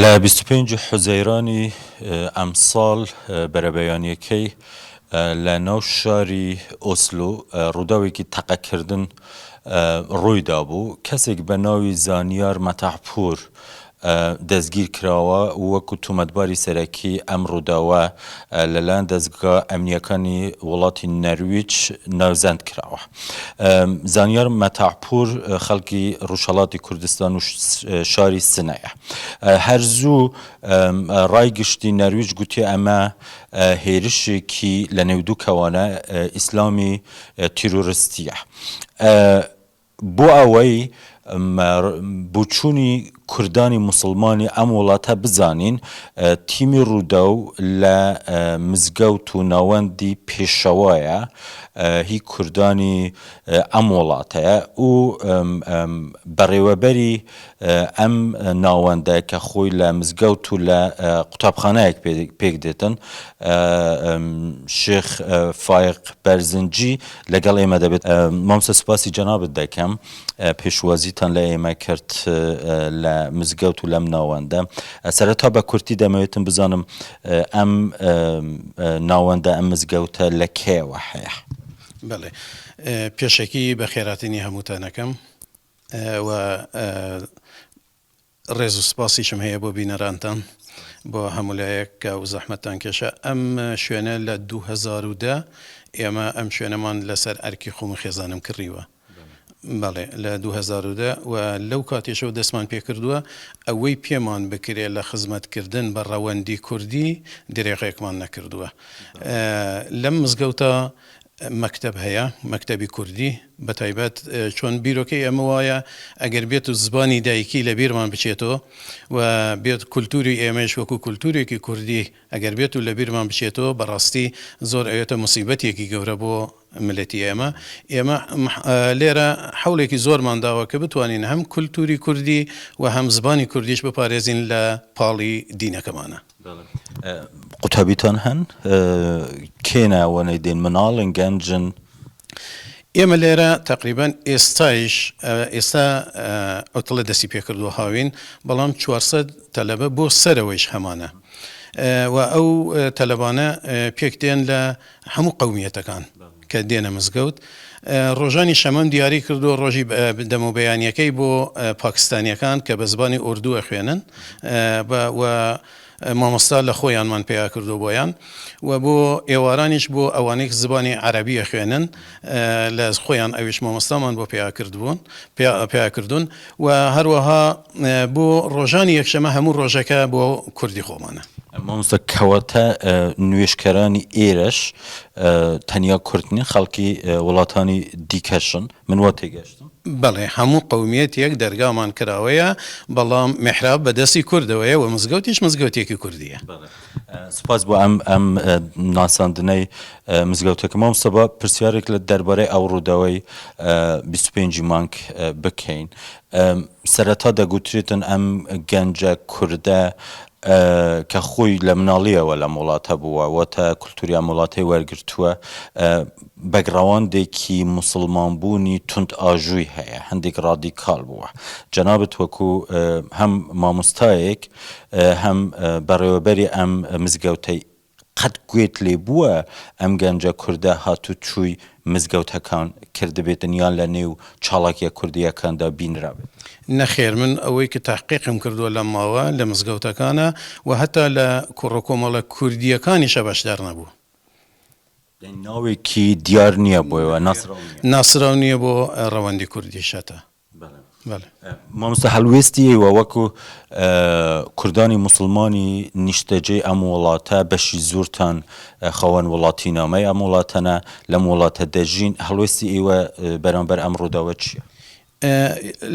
لە بیست و پێنج حوزەیرانی ئەمساڵ بەرەبەیانییەکەی لە ناو شاری ئۆسلۆ ڕووداوێکی تەقەکردن ڕوویدابوو، کەسێک بە ناوی زانیار مەتاحپوور دەستگیرکراوە و وەکو تۆمەتباری سەرەکی ئەم ڕووداوە لەلایەن دەزگا ئەمنییەکانی وڵاتی نەرویج ناوزەند کراوە. زانیار مەتاعپوور خەڵکی ڕوژهەڵاتی کوردستان و شاری سنەیە. هەر زوو ڕای گشتی نەرویج گوتی ئەمە هێرشێکی لە نێو دوو کەوانە ئیسلامی تیرۆرستییە. بۆ ئەوەی بۆچوونی کوردانی موسڵمانی ئەم وڵاتە بزانین، تیمی رووداو لە مزگەوت و ناوەندی پێشەوایە هی کوردانی ئەم وڵاتە و بەڕێوەبەری ئەم ناوەندە کە خۆی لە مزگەوت و لە قوتابخانەیەک پێکدێتن شێخ فایق بەرزنجی لەگەڵ ئێمە دەبێت. مامۆستا سوپاسی جەنابت دەکەم پێشوازیتان لە ئێمە کرد لە مزگەوت و لەم ناوەندە سەرەتا بە کورتی دەمەوێتم بزانم ئەم ناوەندە ئەم مزگەوتە لە کەیەوە هەیە. بەڵێ پێشەکی بەخێراتنی هەمووتان ئەکەم. و ڕێز و سپاسیشم هەیە بۆ بینەرانتان بۆ هەموو لایەک کە و زەحمەتتان کێشا ئەم شوێنە لە دوو هەزار و دە ئێمە ئەم شوێنەمان لەسەر ئەرکی خۆم و خێزانم کڕیوە بەڵێ لە دوو هەزار و دە و لەو کاتێشەوە دەستمان پێ کردووە ئەوەی پێمان بکرێ لە خزمەتکردن بە ڕەوەندی کوردی درێغێکمان نەکردووە لەم مزگەوتە مەکتەب هەیە مەکتەبی کوردی بەتایبەت چۆن بیرۆکەی ئێمە وایە ئەگەر بێتو زبانی دایکی لەبیرمان بچێتۆ و بێت کولتوری ئێمەیش وەکو کولتورێکی کوردی ئەگەر بێتو لەبیرمان بچێتۆ بەڕاستی زۆر ئەوێتە موسیبەتێکی گەورە بۆ ملەتی ئێمە ئێمە لێرە حەولێکی زۆرمان داوە کە بتوانین هەم کولتوری کوردی و هەم زبانی کوردیش بپارێزین لە پاڵی دینەکەمانە. قوتابیتان هەن؟ کێ ناوەنەی دێن؟ مناڵن؟ گەنجن؟ ئێمە لێرە تەقریبەن ئێستایش ئێستا عوتڵە دەستی پێکردووە هاوین بەڵام 400 تەلەبە بۆ سەرەوەیش هەمانە و ئەو تەلەبانە پێک دێن لە هەموو قومیەتەکان کە دێنە مزگەوت ڕۆژانی شەمەم دیاری کردو ڕۆژی دەمەبیانیەکەی بۆ پاکستانیەکان کە بە زبانی ئۆردووە خوێنن و مامۆستا لە خۆیانمان پەیا کردووە بۆیان و بۆ ئێوارانیش بۆ ئەوانەی زبانی عەرەبی ئەخوێنن لە خۆیان ئەویش مامۆستامان بۆ پەیا کردبوون پەیا کردوون و هەروەها بۆ ڕۆژانی یەکشەمە هەموو ڕۆژەکە بۆ کوردی خۆمانە. مامۆستا کەواتە نوێژکەرانی ئێرەش تەنیا کورد نین خەڵکی وڵاتانی دیکەشن من وا تێگەشتم؟ بەڵێ هەموو قەومیەتێک دەرگامان کراوەیە بەڵام میحراب بە دەستی کوردەوەیە وە مزگەوتیش مزگەوتێکی کوردیە. سپاس بۆ ئەم ئەم ناساندنەی مزگەوتەکە مامۆستا با پرسیارێک لە دەربارەی ئەو ڕووداوەی بیست و پێنج ی مانگ بکەین سەرەتا دەگوترێتن ئەم گەنجە کوردە کە خۆی لە مناڵییەوە لەم وڵاتە بووە و تا کولتووری ئەم وڵاتەی وەرگرتووە، بەکگراوندێکی موسڵمانبوونی توندئاژووی هەیە، هەندێک ڕادیکاڵ بووە. جەنابت وەکو هەم مامۆستایەک، هەم بەڕێوەبەری ئەم مزگەوتەی قەت گوێت لێ بووە ئەم گەنجە کوردە هاتوو چووی مزگەوتەکان کردبێتن یان لە نێو چاڵاکیە کوردیەکاندا بینرابێت؟ نەخێر من ئەوەی کە تەحقیقم کردووە لەم ماوە لە مزگەوتەکانە و هەتا لە کوڕە کۆمەڵە کوردیەکانیشە بەشدار نەبوو. یانی ناوێکی دیار نیە بۆ ناسراو نیە؟ ناسراو نیە بۆ ڕەوەندی کوردیش هەتا. مامۆستا هەڵوێستی ئێوە وەکو کوردانی موسڵمانی نیشتەجێی ئەم وڵاتە بەشی زۆرتان خاوەن وڵاتی نامەی ئەم وڵاتەنە لەم وڵاتە دەژین هەڵوێستی ئێوە بەرامبەر ئەم ڕووداوە چیە؟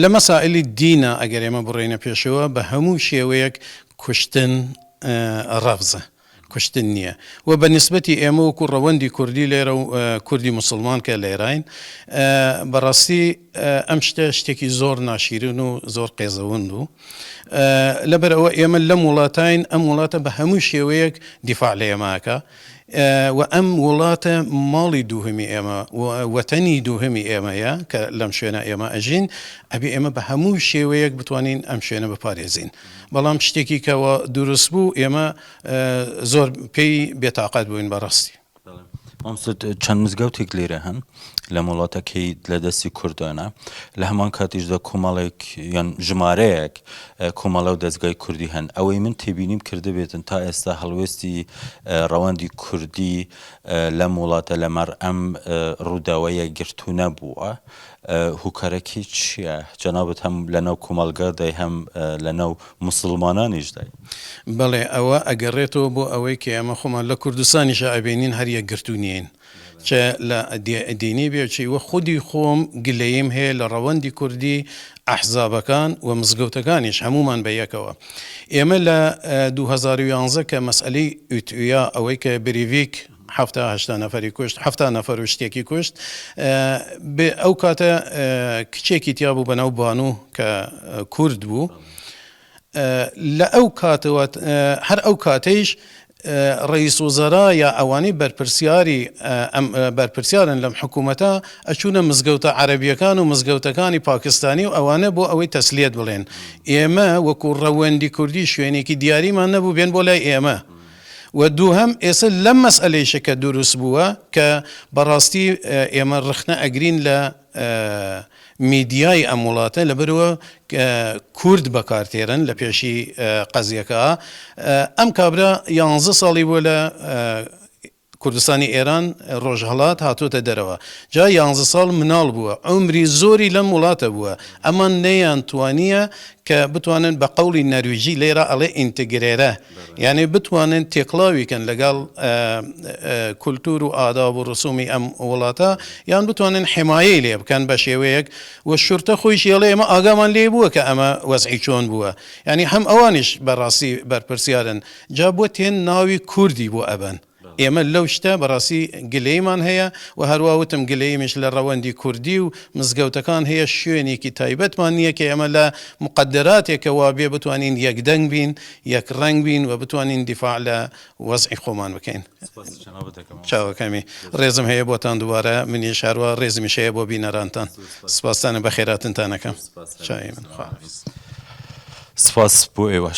لە مەسائیلی دینە ئەگەر ئێمە بڕۆینە پێشەوە بە هەموو شێوەیەک کوشتن ڕەفزە کوشتن نیە وە بە نیسبەتی ئێمە وەکو ڕەوەندی کوردی لێرە و کوردی موسڵمان کە لێراین بە ڕاستی ئەم شتە شتێکی زۆر ناشیرن و زۆر قێزەوەند و لەبەر ئەوە ئێمە لەم وڵاتین ئەم وڵاتە بە هەموو شێوەیەک دیفاع لە ئێماکە و ئەم وڵاتە ماڵی دووهمی ئێمە وەتەنی دووهمی ئێمەیە کە لەم شوێنە ئێمە ئەژین ئەبێ ئێمە بە هەموو شێوەیەک بتوانین ئەم شوێنە بپارێزین. بەڵام شتێکی کە وا دروست بوو ئێمە زۆر پێی بێتاقەت بووین بەڕاستی. مامۆستا چەند مزگەوتێک لێرە هەن لەم وڵاتەکەی لە دەستی کوردانە لە هەمان کاتیشدا کۆمەڵێک یان ژمارەیەک کۆمەڵە و دەستگای کوردی هەن ئەوەی من تێبینیم کردبێتن تا ئێستا هەڵوێستی ڕەوەندی کوردی لەم وڵاتە لەمەڕ ئەم ڕووداوە یەکگرتوو نەبووە هوکارەکی چیە جەنابت هەم لەناو کومەلگادای هەم لەناو موسلمانانیشدای. بەڵێ ئەوە ئەگەڕێتەوە بۆ ئەوەی کە ئێمە خۆمان لە کوردستانیشا ئەبینین هەر یەکگرتوو نین چ لە دینی بێ چی وە خودی خۆم گلەییم هەیە لە ڕەوەندی کوردی ئەحزابەکان و مزگەوتەکانیش هەموومان بە یەکەوە ئێمە لە دوو هەزار و یانزە کە مەسئەلەی ئوتویا ئەوەی کە بریڤیک حەفتا هەشتا نەفەری کوشت حەفتا نەفەر و شتێکی کوشت بێ ئەو کاتە کچێکی تیا بوو بەناو بانوو کە کورد بوو لە ئەو کاتەوە هەر ئەو کاتەیش ڕئیس وزەرا یا ئەوانەی بەرپرسیاری ئەم بەرپرسیارن لەم حکوومەتە ئەچوونە مزگەوتە عەربیەکان و مزگەوتەکانی پاکستانی و ئەوانە بۆ ئەوەی تەسلیت بڵێن ئێمە وەکو ڕەوەندی کوردی شوێنێکی دیاریمان نەبوو بێن بۆ لای ئێمە وە دووهەم ئێسە لەم مەسئەلەیشە کە دوروست بووە کە بەڕاستی ئێمە ڕخنە ئەگرین لە میدیای ئەم وڵاتە لەبەرئەوە کورد بەکار تێرن لە پێشی قەزیەکە ئەم کابرا یانزە ساڵی بووە لە کوردستانی ئێران، ڕۆژهەڵات، هاتووەتە دەرەوە. جا یانزە ساڵ مناڵ بووە. عومری زۆری لەم وڵاتە بووە. ئەمان نەیانتوانییە کە بتوانن بە قەوڵی نەرویجی لێرە ئەڵێ ئینتگرێرە یانێ بتوانن تێکڵاوی کەن لەگەڵ کولتوور و ئاداب و ڕسوومی ئەم وڵاتە یان بتوانن حمایەی لێ بکەن بە شێوەیەک و شورتە خۆیشی ئەڵێ ئێمە ئاگامان لێ بووە کە ئەمە وەزعی چۆن بووە. یانی هەم ئەوانیش بە ڕاستی بەرپرسیارن. جا بۆ تێن ناوی کوردی بۆ ئەبەن ئێمە لەو شتە بەڕاستی گلەیمان هەیە و هەروا وتم گلەیمش لە ڕەوەندی کوردی و مزگەوتەکان هەیە شوێنێکی تایبەتمان نیە کە ئێمە لە موقەدەراتێکە وابێ بتوانین یەک دەنگ بین یەک ڕەنگ بین و بتوانین دیفاع لە وەزعی خۆمان بکەین چاوەکەمی ڕێزم هەیە بۆتان دوبارە منیش هەروا ڕێزمیش هەیە بۆ بینەرانتان سپاستانە بەخێراتنتانەکەم چاوی من خواحافیز سپاس بۆ ئێوەش